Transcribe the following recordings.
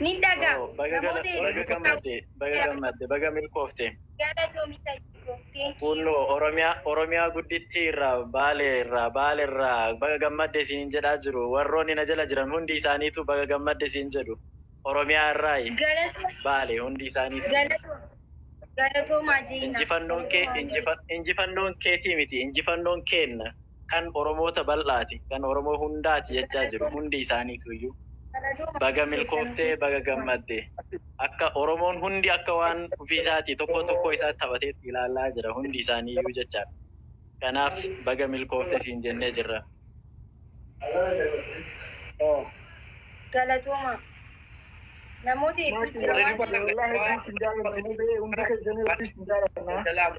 Nin dhaga. Oo, baga gala- Namoota baga hedduu gammadde, baga gammadde, baga milkoofte. Galatoomi sanyii koo. Thank you. Kuunnoo Oromiyaa, Oromiyaa guddittii irraa, Baalee irraa, Baale irraa baga gammadde siin jedhaa jiru. Warroonni na jala jiran hundi isaaniituu baga gammadde siin jedhu. Oromiyaa irraayi, Galatoomi. Baale hundi isaaniituu. Galatoomi. Galatoomaa Jeyna. Injifannoon kee, Galatoomaa. injifa- injifannoon keetii miti, injifannoon keenna. kan Oromoota bal'aati, kan Oromoo hundaati jechaa jiru hundi isaaniituuyyuu. Baga milkooftee, baga gammadde. Akka Oromoon hundi akka waan ofiisaatii tokkoo tokkoo isaatti taphateetti ilaallaa jira hundi isaaniiyyuu jechaadha. Kanaaf baga milkoofte siin jennee jirra. Galatoomaa. Namoota hedduu jira waan ta'eef. Wallaahi hedduu isin jaalanna mubee hundi keessanuu hedduu isin jaalanna.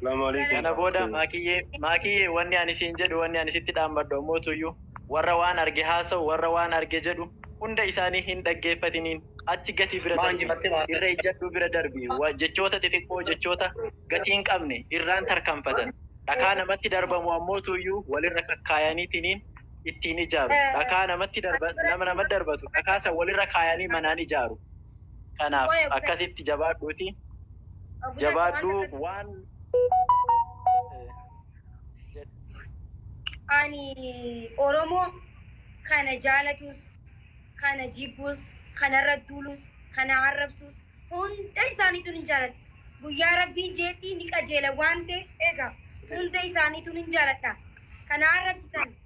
Salaamu alaikum. Kana booda Maakiyyee, Maakiyyee wanni ani siin jedhu, wanni ani sitti dhaammadhu ammoo tuyyuu warra waan arge haasa'u, warra waan arge jedhu hunda isaanii hin dhaggeeffatiniin. Achi gatii bira darbi. Irra ijjadhuu bira darbi. Wa, jechoota xixiqqoo, jechoota gatii hin qabne irraan tarkaanfatan. Dhakaa namatti darbamu ammoo tuyyuu walirra kakkaayaniitiniin ittiin ijaaru. Dhakaa namatti darba, nama namatti darbatu dhakaa san walirra kaayanii manaan ijaaru. kanaaf akkasitti jabaadhuuti jabaadhuu waan ani oromoo kana jaalatus kana jibbus kana irra duulus kana arrabsus hunda isaaniitun hin jaaladha guyyaa rabbiin jeetti ni qajeela waan ta'eef egaa hunda isaaniitun hin jaaladha kana arrabsitan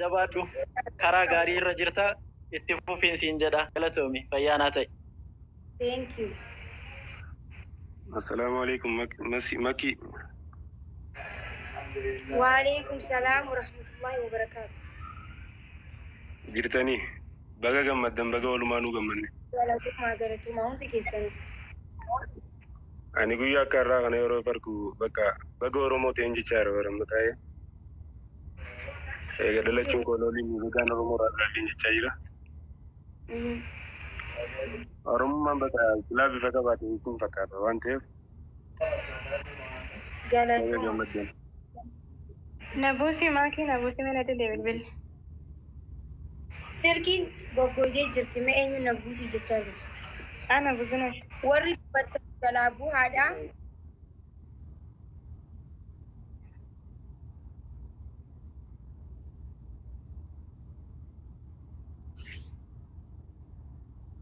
Jabaadhu karaa gaarii irra jirta itti fufiin siin jedha galatoomi fayyaa naa ta'i. Thank you. Asalamu aleykum masi makii. Waaleykum salaam warahmatullahi wabarakatuh. Jirtanii baga gammaddan baga walumaanuu gammanne. Galatomaa galatomaa hundi keessanuu. Ani guyyaa akka har'aa kana yeroo fargu bakka baga Oromoo ta'een jechaa jira bara amma taa'ee. Eega dhalachuun koo looliin bagaan Oromoo irraa dhaladheen jechaa jira. Oromummaan bakka silaa bifa qabaate isin fakkaata waan ta'eef baga Galatuma. gammaddan. Nabusi maki nabusi mana dide bilbil. Silkiin goggooydee jirti mee eenyuun na buusii jechaa jiru. Ana Buzunash. Warri dubbattan jalaa buhaadha.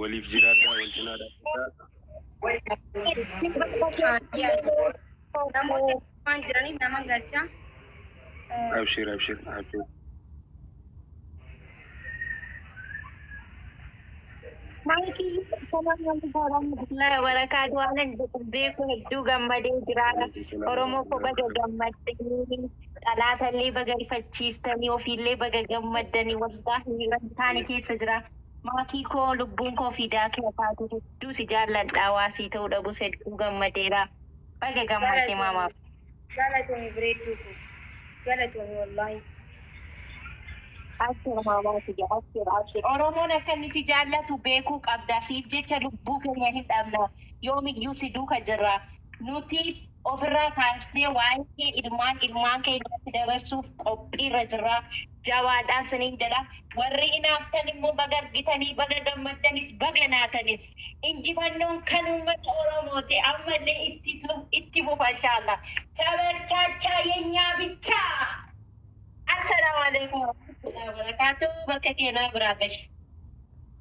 Waliif jiraadhaa, wal cinaa dhaabbadhaa. Namoota waan jiraniif naman galcha. Abshir, abshir, abshir. Maaliif salaan namni warahmatullahi wabarakaatu waan ani jedhu beeku hedduu gammadee jira. Oromoo koo baga gammaddanii xalaatallee baga rifachiiftanii ofiillee baga gammaddanii wallaahi wantaani keessa jira. Maatii koo lubbuun koo fiidaa kee taate hedduu si jaalladha waa sii ta'uu dhabus hedduu gammadeera baga gammadde maama. Galatoomi galatoomi breedduu koo galatoomi wollahi. Abshir maamaa tiyya abshir abshir oromoon akka inni si jaallatu beekuu qabda siif jecha lubbuu keenya hin dhabna yoomiyyuu si duuka jirra. Nutis ofirraa kaasnee waa'ee kee ilmaan ilmaan keenyatti dabarsuuf qophiirra jirra. Jabaadhaan siniin jedha. Warri hinaaftan immoo baga argitanii, baga gammaddanis, baga naatanis. Injifannoon kan uummata Oromooti. Ammallee ittitu itti fufa inshaallah. Tabarchaachaa yenyaa bichaa! Assalaamu aleykum warahmatullahi wabarakaatuh. Bakka keenaa biraa gashi.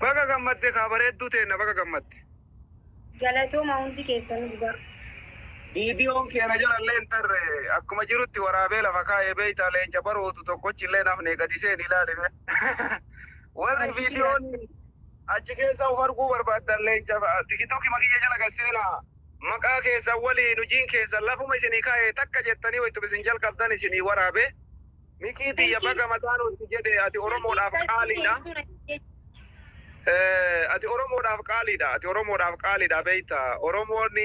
Baga gammadde kaa bareedduu teenna baga gammadde. Galatooma hundi keessanu dhugaa. Viidiyoon kee na jala illee hin tarre. Akkuma jirutti waraabee lafa kaa'e beektaa leenca baroodu tokkochi illee hin hafne gadi seeni ilaali mee. Warri Abshir viidiyoon abshir. achi keessa of arguu barbaaddan leenca tikitokima kiyya jala gad seenaa. Maqaa keessan waliin hojiin keessan lafuma isinii kaa'e takka jettanii wayituma isin jalqabdan isinii waraabe. Mikii tiyya baga mataanuu si jedhe ati oromoodhaaf qaaliidha. Ati oromoodhaaf qaaliidha ati oromoodhaaf qaaliidha beekta oromoon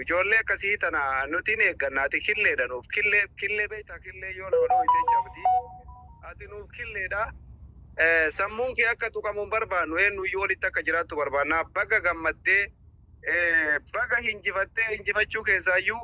ijoollee akkasii tana nuti ni eegganna ati killeedha nuuf killee killee beekta killee yoo nama dhooyte cabdi ati nuuf killeedha. Sammuun kee akka tuqamu hin barbaannu eenyuyyuu olitti akka jiraattu barbaanna baga gammaddee baga hinjifattee hinjifachuu keessaayyuu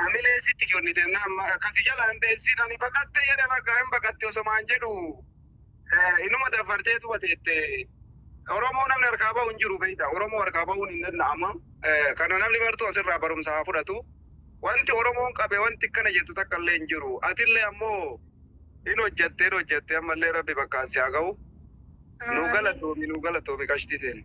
Hamilee sitti kennite nama kasi jala hin dheessin ani baqatte jedhe bakka hin baqatte osomaan jedhu inuma dafartee tuba teette Oromoo namni harkaa bahu hin jiru beekta Oromoo harkaa bahuun hin danda'ama kana namni bartuu asirraa barumsa haa fudhatu wanti Oromoon qabe wanti akkana jettu takka illee hin jiru atillee ammoo hin hojjatte hin hojjatte ammallee rabbi bakkaan si haa gahu nu galatoomi nu galatoomi qashtii teenya.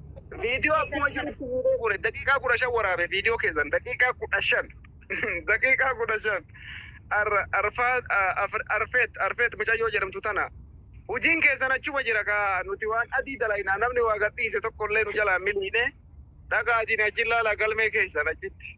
Viidiyoo akkuma jirutti fuudhee fuudhe daqiiqaa kudha shan waraabe viidiyoo keessan daqiiqaa kudha shan daqiiqaa kudha shan Ar- arfaa a- afr- arfeet arfeet mucayyoo jedhamtu tana hojiin keessan achuma jira kaa nuti waan adii dalaynaa namni waa gadhiise tokko illee nu jalaa miliine dhaqaatiin achi ilaalaa galmee keessan achitti.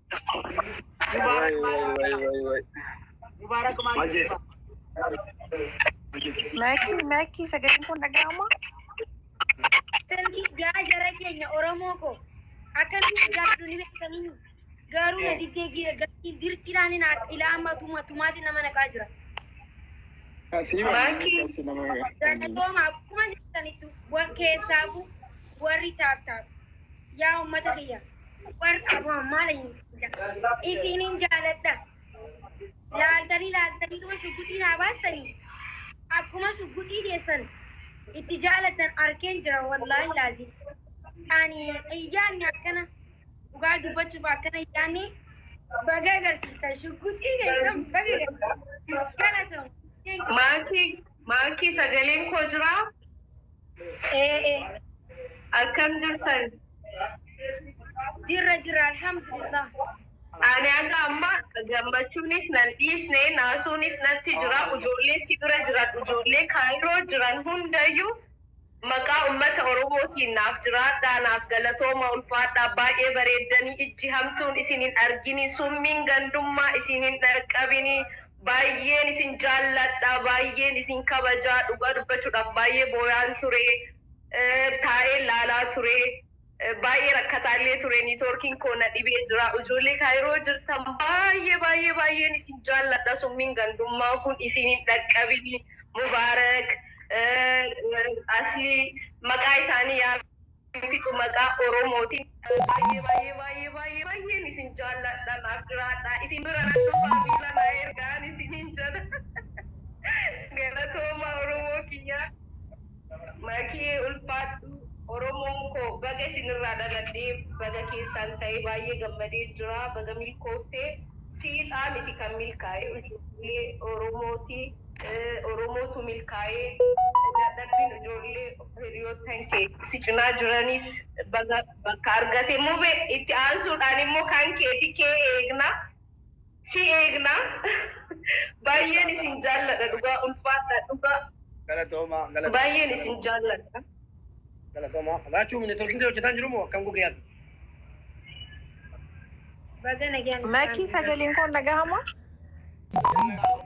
Mubaarak maal Mubaarak maal Maakii maakii sagaleen kun dhaga'ama. Sanki gaa jara keenya Oromoo koo akkamitti gaaddu ni beekanii garuu na diddee gira gatii dirqiidhaan hin haadha ilaa amma tuma tumaati nama naqaa jira. Galatooma akkuma jirtanittu wa- keessaafu warri taaptaap yaa uummata kiyya War abo ammaa layin sinja. Isiinin jaaladha. Laaltanii laaltanii tuma shugguxii naa baastanii akkuma shugguxii teessan itti jaalattan arkeen jira wallaahi laazim. Ani hin yaadne akkana dhugaa dubbachuuf akkana hin yaadne baga agarsiistan shugguxii teessan baga agarsiistan. Galatoom. Thank you. Maakii maakii sagaleen koo jiraa? Ee akkam jirtan? Jirra jirra alhamdulillah. Ani haga amma gammachuunis nan dhiisne naasuunis natti jira ujoollee si bira jiran ujoollee kaayiroo jiran hundayyu maqaa ummata oromootiin naaf jiraadhaa naaf galatooma ulfaadhaa baay'ee bareeddanii ijji hamtuun isin hin argini summiin gandummaa isin hin dhaqqabini Baay'een isin jaalladha baay'een isin kabajaa dhugaa dubbachuudhaaf baay'ee booyaan ture taa'een laalaa ture baay'ee rakkataa illee ture niitoorkiin koo na dhibee jira ijoollee kaayiroo jirtan baay'ee baay'ee baay'een isin jaalladha summiin gandummaa kun isin hin dhaqqabini mubaarak asli maqaa isaanii yaa hin fixu maqaa oromootin. Baay'ee baay'ee baay'ee baay'ee baay'een isin jaalladha naaf jiraadhaa isin bira nan dhufaa viizaa naa ergaan isiniin jedha galatoomaa oromoo kiyyaa makiyee ulfaadhu oromoon koo baga isin irraa dhaladhee baga keessaan ta'ee baay'ee gammadeen jiraa baga milkooftee siidhaa miti kan milkaa'ee ijoollee oromooti oromootu milkaa'ee dadhabbiin ijoollee Hiriyoottan kee si cinaa jiranis baga bakka argate Mube! Itti aansuudhaan immoo kan keeti K eegna. Si eegna. Baayyeen isin jaalladha dhugaa ulfaadhaa dhugaa. Galatoomaa galatoomaa. Baayyeen isin jaalladha. Galatoomaa. Raachuu networking kee hojjetaa hin jiru moo akkam gogee ati? Baga nagaan dhuftaan. Makii sagaleen koo hin dhagahamaa? Nagaan dhufte.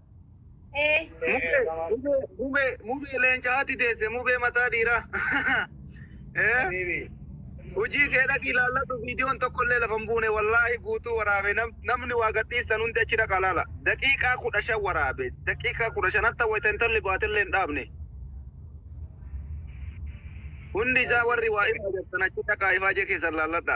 Eh, Mubee, mubee, mubee, mubee leenca haati deesse, mubee mataa dhiiraa. Eh, Hojii kee dhaqi ilaalladhu viidiyoon tokko illee lafa hin buune wallaahi guutuu waraabe nam, namni waa gadhiistan hundi achi dhaqa ilaala. Daqiiqaa kudha shan waraabe. Daqiiqaa kudha shan hatta wayita intalli baate illee hin dhaabne. Hundi isaa warri waa irraa jirtan achi dhaqaa ifaajee keessan ilaalladha.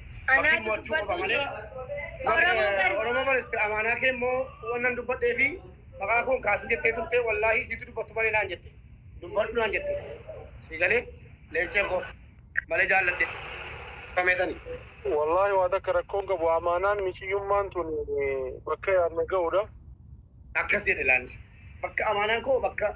Bakki Anaatu mo'achuu qofa dubbadhu malee. jee. Oromoo Oromoo barsi. Oromoo bariste amaanaa kee immoo wannan dubbadhee fi maqaa koon kaasin jettee turte wallaahii siitu dubbattu malee naan jette. Dubbadhu naan jette. Sii galee leencee koo malee jaalladhe. Kameetani. Wallaahi waa takka rakkoon qabu amaanaan miciyyummaan tun bakka yaadne ga'udha. Akkas jedhe laanni. Bakka amaanaan koo bakka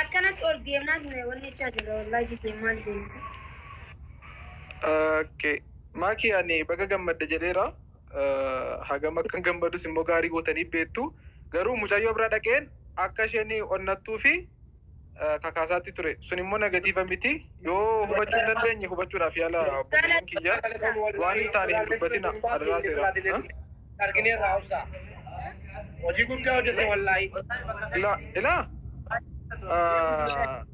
Akkanatti ol deemnaa ture wanni jechaa jirra wallahi jibee maal deemsa. Okay. Maaki ani baga gammadde jedheera. Eh, Hagam akkan gammadus immoo gaarii gootanii beektu. Garuu mucayyoo bira dhaqeen akka isheen onnattuu fi eh, kakaasaatti ture. Sun immoo negatiiva miti. Yoo hubachuu hin dandeenye hubachuudhaaf yaalaa obboleeyyan kiyya. Waan hin taane hin dubbatina adaraa seera. argineerraa obsaa hojii guddaa hojjette wallaahii. Ila ila Ah,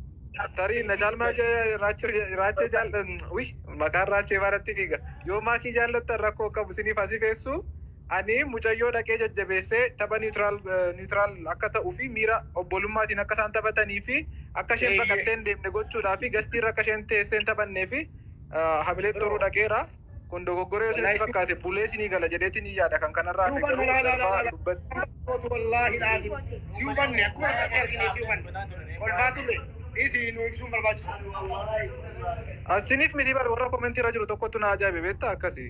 tarii na caalmaa jee raachuu raachee jaal wi maqaan raachee baaratti fiiga yoo maakii jaallattan rakkoo qabu siniif asifeessu Ani mucayyoo dhaqee jajjabeessee tapha neutral neutral akka ta'uu fi miira obbolummaatiin akka isaan taphatanii fi akka isheen Eeyyee. baqattee hin deemne gochuudhaa fi gastii irra akka isheen teessee hin taphannee fi ah, hamilee Yeroo. xuruu dhaqeera. Kun dogoggora yoo isinitti Wallahi. fakkaate bulee isinii gala jedheetiin hin yaada kan kanarraa hafe Duuba garuu laa laa laa darbaa laa. dubbatti. Kootu wallaahi laaziim. Si hubanne akkuma irratti argine si hubanne. Kolfaa turre. Dhiisi nu ibsuun barbaachisu. Asiniif miti bar warra komentii irra jiru tokkotu na ajaa'ibe beektaa akkasi.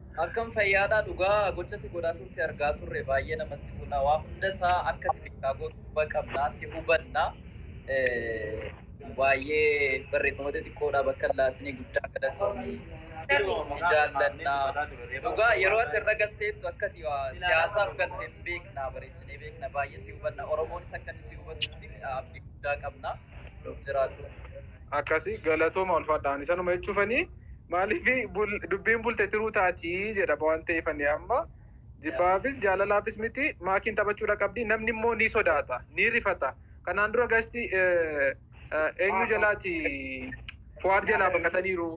Akkam fayyaadha dhugaa gochati godhaa turte argaa turre baay'ee namatti tola waa hunda isaa akkati beekaa gootu quba qabna si hubanna baay'ee barreeffama xixiqqoodha bakka hin laatinii guddaa galatoomi si jaallanna dhugaa yeroo ati irra galteettu akkati waa siyaasaaf galte hin beekna bareechinee beekna baay'ee si hubanna oromoonis akka inni si hubatutti abdii guddaa qabna nuuf jiraadhu. Akkasi galatoma ulfadha ani sanuma jechufani malifi dubbiin bulte tiruu taati jedha waan ta'eef ani amma jibbaafis jaalalaafis miti maakiin taphachuudha qabdi namni immoo ni sodaata ni rifata kanaan dura gasti eenyu jalaati fuwaad jalaa baqataniiru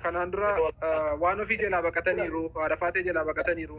kanaan dura waan ofii jalaa baqataniiru haadha faatee jalaa baqataniiru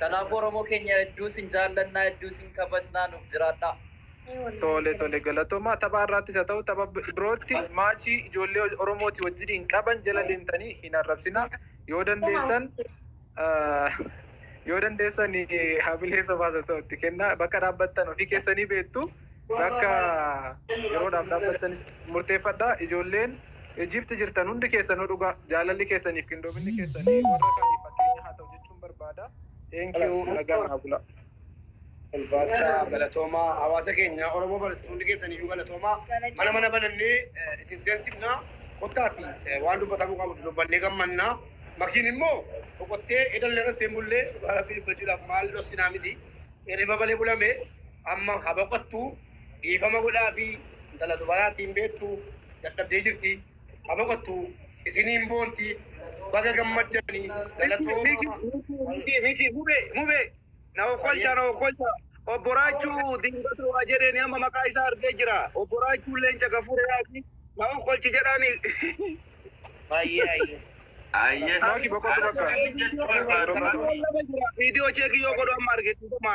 Kanaafuu oromoo keenya hedduu isin jaallannaa hedduu isin kabajnaa nuuf jiraadhaa. Tole tole galatomaa taphaa irraattis ha ta'u tapha birootti maachii ijoollee oromooti wajjiniin qaban jala deemtanii hin arrabsina yoo dandeessan yoo dandeessan hamilee sobaas ha ta'u itti kenna bakka dhaabbattan ofii keessanii beektu bakka yeroodhaaf dhaabbattanis murteeffadha ijoolleen Egypt jirtan hundi keessanuu dhugaa jaalalli keessaniif qindoominni keessanii warra kaaniif fakkeenya haa ta'u jechuun barbaada. Thank you nagaan naa bulaa. Ulfaadhaa galatoomaa hawaasa keenya Oromoo barsiisu hundi keessan iyyuu galatoomaa mana mana banannee eh, isin seensifna kottaati eh, waan dubbatamuu qabu dubbannee gammanna makiin immoo boqottee edallee irratti hin bullee dhugaa rabbii dubbachuudhaaf maal dhossinaa miti hirriba malee bulame amma ha boqottu Dhiifama godhaafi intala dubaraa tiin beektu dadhabdee jirti ha boqottu isiniin boonti baga gammaddani galatooma. Miki mube mube na okkolcha na okkolcha obbo Raachu dingata waa jedheni amma maqaa isaa argee jira obbo Raachuun leenca gafure yaati na okkolchi jedhani Baay'ee ayyee. Ayyee Maki boqotu bakka. Ani Boqotu bakka. Boqotu bakka. video check yoo godhu amma arge dhiifama.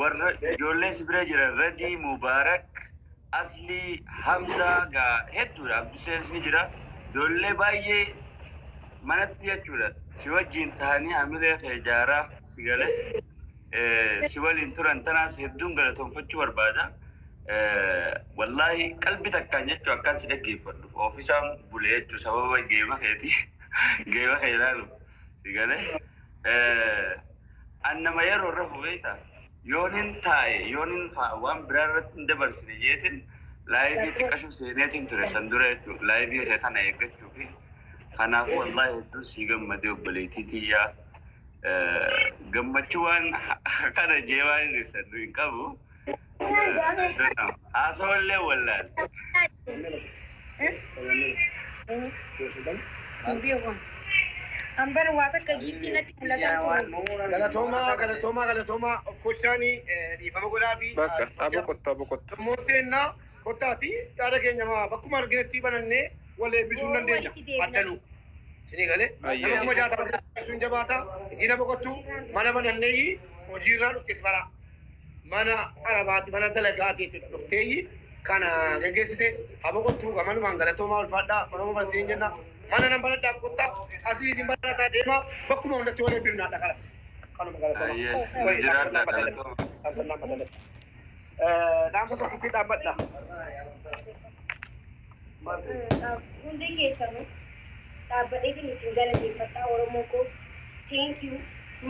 warra ijoollee si bira jiran Radii, Mubaarak, Aslii, Hamzaa gaa hedduudha. Abduseenis ni jira. Ijoollee baay'ee manatti jechuudha. Si wajjin tahanii hamilee kee ijaaraa si gale eh, si waliin turan tanaas hedduun galatoomfachuu barbaada. Eh, Wallaahi qalbi takkaan jechuu akkaan si dhaggeeffadhu. Oofisaan bule jechuu sababa geema keeti. Geema kee ilaalu. Si galee an nama yeroo rafu beekta yoonin taa'e yoonin faa waan biraa irratti hin dabarsine jeetin laayivii xiqqashu seeneetin ture san dura jechuudha laayivii kee kana eeggachuu fi kanaafuu wallaahi hedduu sii gammadee obboleettii tiyyaa gammachuu waan kana jee waan hin ibsadhu hin qabu. Haasawallee wallaale. Hambara waa takka giiftii natti mul'ataa ture. Galatoomaa galatoomaa galatoomaa of kolchaanii dhiifama godhaa fi Bakka abo kottu abo kottu. immoo seennaa kottaati yaada keenya maa bakkuma arginetti banannee wal eebbisuu hin dandeenya addanuu. Isinii galee Ayyee. nama kuma jaatama keessatti sun jabaata isiina boqottu mana banannee hojiirraa dhufte si baraa. mana arabaati mana dalagaati dhufteeyyi kana geggeessite haa boqottu gamanumaan galatoomaa ulfaadhaa oromoo bara siin jenna mana nan baradhaa boqottaa asii isin barataa deemaa bakkuma hundatti wal eebbifnaadha kalas kanuma galatoomaa Ayyee, Wayi, dhaamsa jiraadha, nama dalaga. galatoomaa. Dhaamsa nama dalaga. Eh, dhaamsa tokkitti dhaabbadha Hundee keessanu dhaabbadheetin isin galateeffadha oromoo koo thank you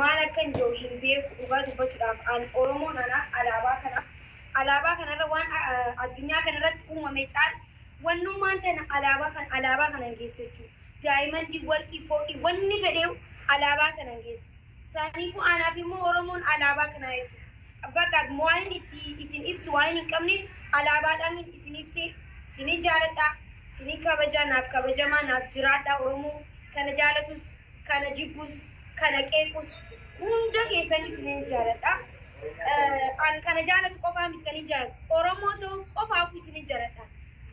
maal akkan ja'u hin beeku dhugaa dubbachudhaaf an oromoon ana alaabaa kana alaabaa kana irra waan addunyaa kana irratti uumame caal wannummaan tana alaabaa kana alaabaa kanan geessu jechuu daayimandii warqii fooqii wanni fedheeyu alaabaa kanan geessu Saniifuu anaaf immoo Oromoon alaabaa kanaa jechuudha. Bakka waanin itti isin ibsu waanin hin qabneef alaabaadhaanin isin ibsee isinin jaaladha, isinin kabaja, naaf kabajamaa, naaf jiraadhaa Oromoo kana jaalatus, kana jibbus, kana qeequs hunda keessanuu isinin jaaladha. An kana jaalatu qofaa miti kanin jaaladhu Oromoo ta'uu qofaafuu isinin jaladha.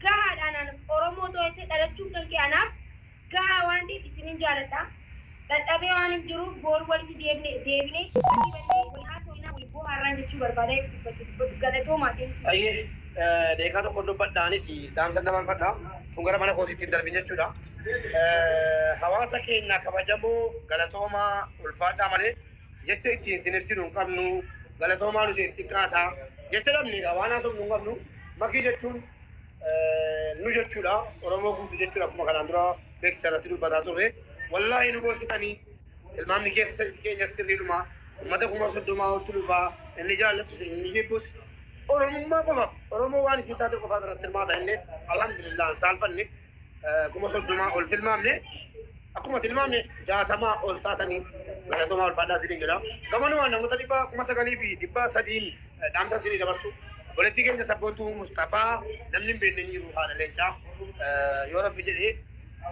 Gahaadha anaan Oromoo ta'uu jettee dhalachuun kankee anaaf gahaa waan ta'eef isinin jaaladha. Dhadhabee waanin jiruuf booruu walitti deebine deebinee walii bannee wal haasooynaa wal boohaarraan jechuu barbaada yoo dubbattu dubbadhu galatoomaa thank you. Hayyee daqiiqaa tokkon dubbadha anis dhaamsan dabarfadha tun gara mana kootiitti hin darbin jechuudha hawaasa keenya kabajamoo galatoomaa ulfaadhaa malee jecha ittiin sin ibsinu hin qabnu galatoomaa nu isiniif xiqqaata jecha dhabne egaa waan haasofnu hin qabnu makii jechuun nu jechuudha Oromoo guutu jechuudha akkuma kanaan dura beeksisa irratti dubbataa turre wallaahi nu gorsitanii ilmaamni keessa keenya sirriidhuma ummata kuma soddomaa oltu dhufaa inni jaallatus inni jibbus Oromummaa qofaaf Oromoo waan isin taate qofaa irratti hirmaata inni alhamdulillah hin saalfanne kuma soddomaa ol tilmaamne akkuma tilmaamne jaatamaa ol taatanii galatomaa ulfaadhaa isiniin jedha. Gamanumaan namoota dhibba kuma sagalii fi dhibba sadiin eh, dhaamsa isinii dabarsu. Obboleettii keenya sabboontuu Musxafaa namni hin beekne hin jiru haadha leencaa Eh, yoo rabbi jedhee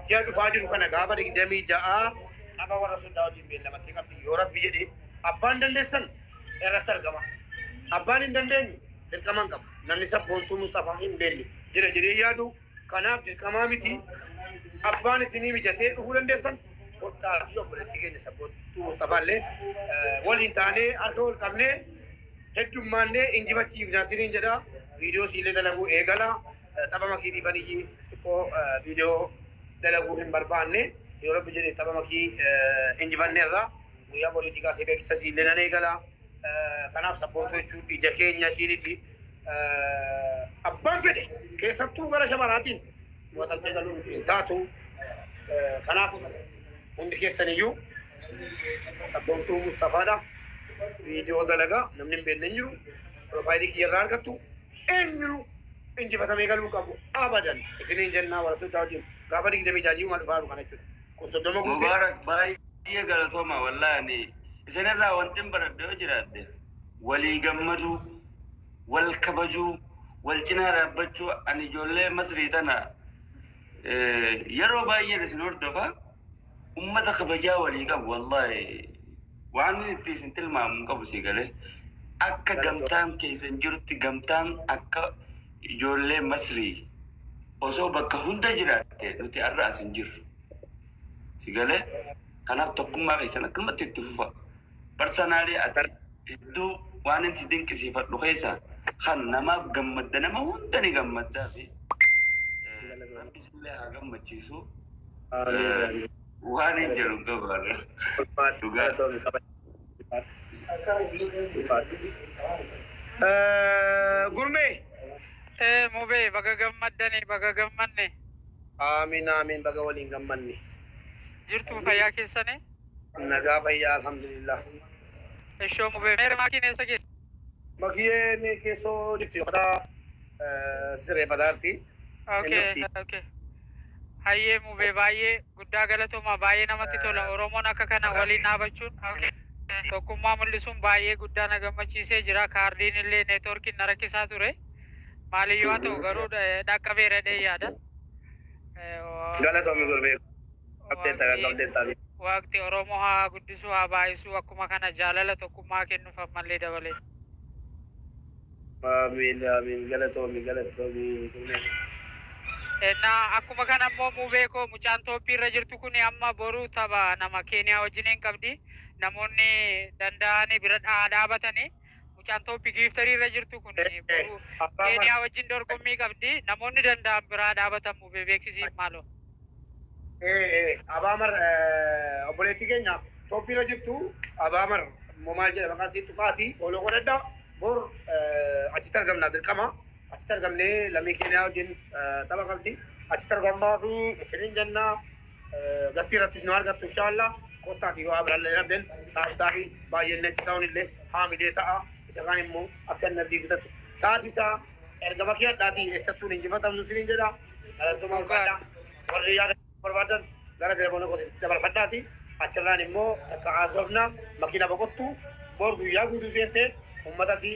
ji'a dhufaa jiru kana gaafa digdamii ja'a qaba warra soddaa wajjin beellamatti qabdi yoo rabbi jedhee abbaan dandeessan irratti argama. Abbaan hin dandeenye dirqaman qaba. Namni sabboontuu Musxafaa hin beekne jira jedhee yaadu Kanaaf dirqamaa miti. Abbaan isinii mijatee dhufuu dandeessan kottaatii obboleettii keenya sabboontuu Musxafaa illee waliin taanee harka wal qabnee heddummaannee injifachiifna isiniin jedha. Viidiyoo siillee dalaguu eegala. Tapha makiitiifan iyyii xiqqoo viidiyoo dalaguu hin barbaanne. Yoo rabbi jedhe tapha makii injifanneerra. Guyyaa boriitii kaasee beeksisa siillee nan eegala. Kanaaf sabboontuu jechuun ija keenya isiinis abbaan fedhe keessattuu gara shamaraatiin mo'atamtee galuun hin taatu. Kanaaf hundi keessaniyyuu sabboontuu Mustafaadha. Viidiyoo dalagaa namni hin beekne hin jiru. Piroofaayilii kiyyarraa argattu eenyuun injifatamee galuu qabu abadan isiniin jennaa warra soddaa wajjin gaafa digdamii jaajii uumaa dhufaa jiru kana jechuudha. Kun soddoma guutee. Mubarak baay'ee. Baay'ee galatoomaa wallahi ani isinirraa wantin baradhe yoo jiraadhe walii gammaduu wal kabajuu wal cinaa dhaabbachuu ani ijoollee masrii tana yeroo baay'een isin hordofa ummata kabajaa walii qabu wallahi waanin itti isin tilmaamu hin qabu sii galee akka gamtaan keessan jirutti gamtaan akka ijoollee masrii osoo bakka hunda jiraatte nuti arra as hin jirru. Si galee? Kanaaf tokkummaa keessan akkanumatti itti fufaa. Personally ati hedduu waanin si dinqisiifadhu keessaa kan namaaf gammadda nama hunda ni gammaddaafi rabbi sillee haa gammachiisu waanin jedhu hin qabu har'a dhugaa. Gurmee! Ee mubee baga gammaddani baga gammanne. Aamiin Aamiin baga waliin gammanne. Jirtuu fayyaa keessanii. Nagaa fayyaa alhamdulillah. Eshoo mubee mee remaakiin eessa geesse. Makiyee mee keessoo jirti ufataa sireefataa jirti. Ok ok hayyee mubee baay'ee guddaa galatoomaa baay'ee namatti tola oromoon akka kana waliin dhaabachuun tokkummaa mul'isuun baay'ee guddaa na gammachiisee jira kaardiin illee networkiin na rakkisaa ture. maaliyyuu haa ta'u garuu dhaqqabeeradhee yaada. Galatoomi gurbee qabdee taga qabdee tabi. Waaqti Oromoo haa guddisuu haa baay'isuu akkuma kana jaalala tokkummaa kennuuf ammallee dabalee. Aamiin aamiin galatoomi galatoomi gurbee. Ennaa akkuma kana immoo mubee koo mucaan tooppii irra jirtu kun amma boru tapha nama keeniyaa wajjiniin qabdi namoonni danda'ani bira haa dhaabatani. Mucaan tooppi giiftarii irra jirtu kun boruu Keeniyaa wajjin dorgommii qabdi. Namoonni danda'an biraa dhaabatan mubee beeksisiif maaloo. Abaamar obboleettii keenya tooppi irra jirtu Abaamar momaa jedha maqaa isii tuqaati fooloo godhadha. Bor achitti argamna dirqama. Achitti argamnee lammii Keeniyaa wajjin tapha qabdi. Achitti argamaa fi isiniin jennaa. Gastii irrattis nu argattu inshaallah. Kottaati yoo abirallee rabbiin taartaafi baay'een netti ta'uun illee haamilee ta'a. Isa kaan immoo akka inni abdii kutatu taasisaa. Ergama kee hadhaatii eessattuu hin injifatamnu siniin jedha. Galattooma ulfaadha. Warri yaada barbaadan gara telefoona kootiin dabarfadhaati. Achirraan immoo takka haasofna makiina boqottu bor guyyaa guutuu seentee uummatasii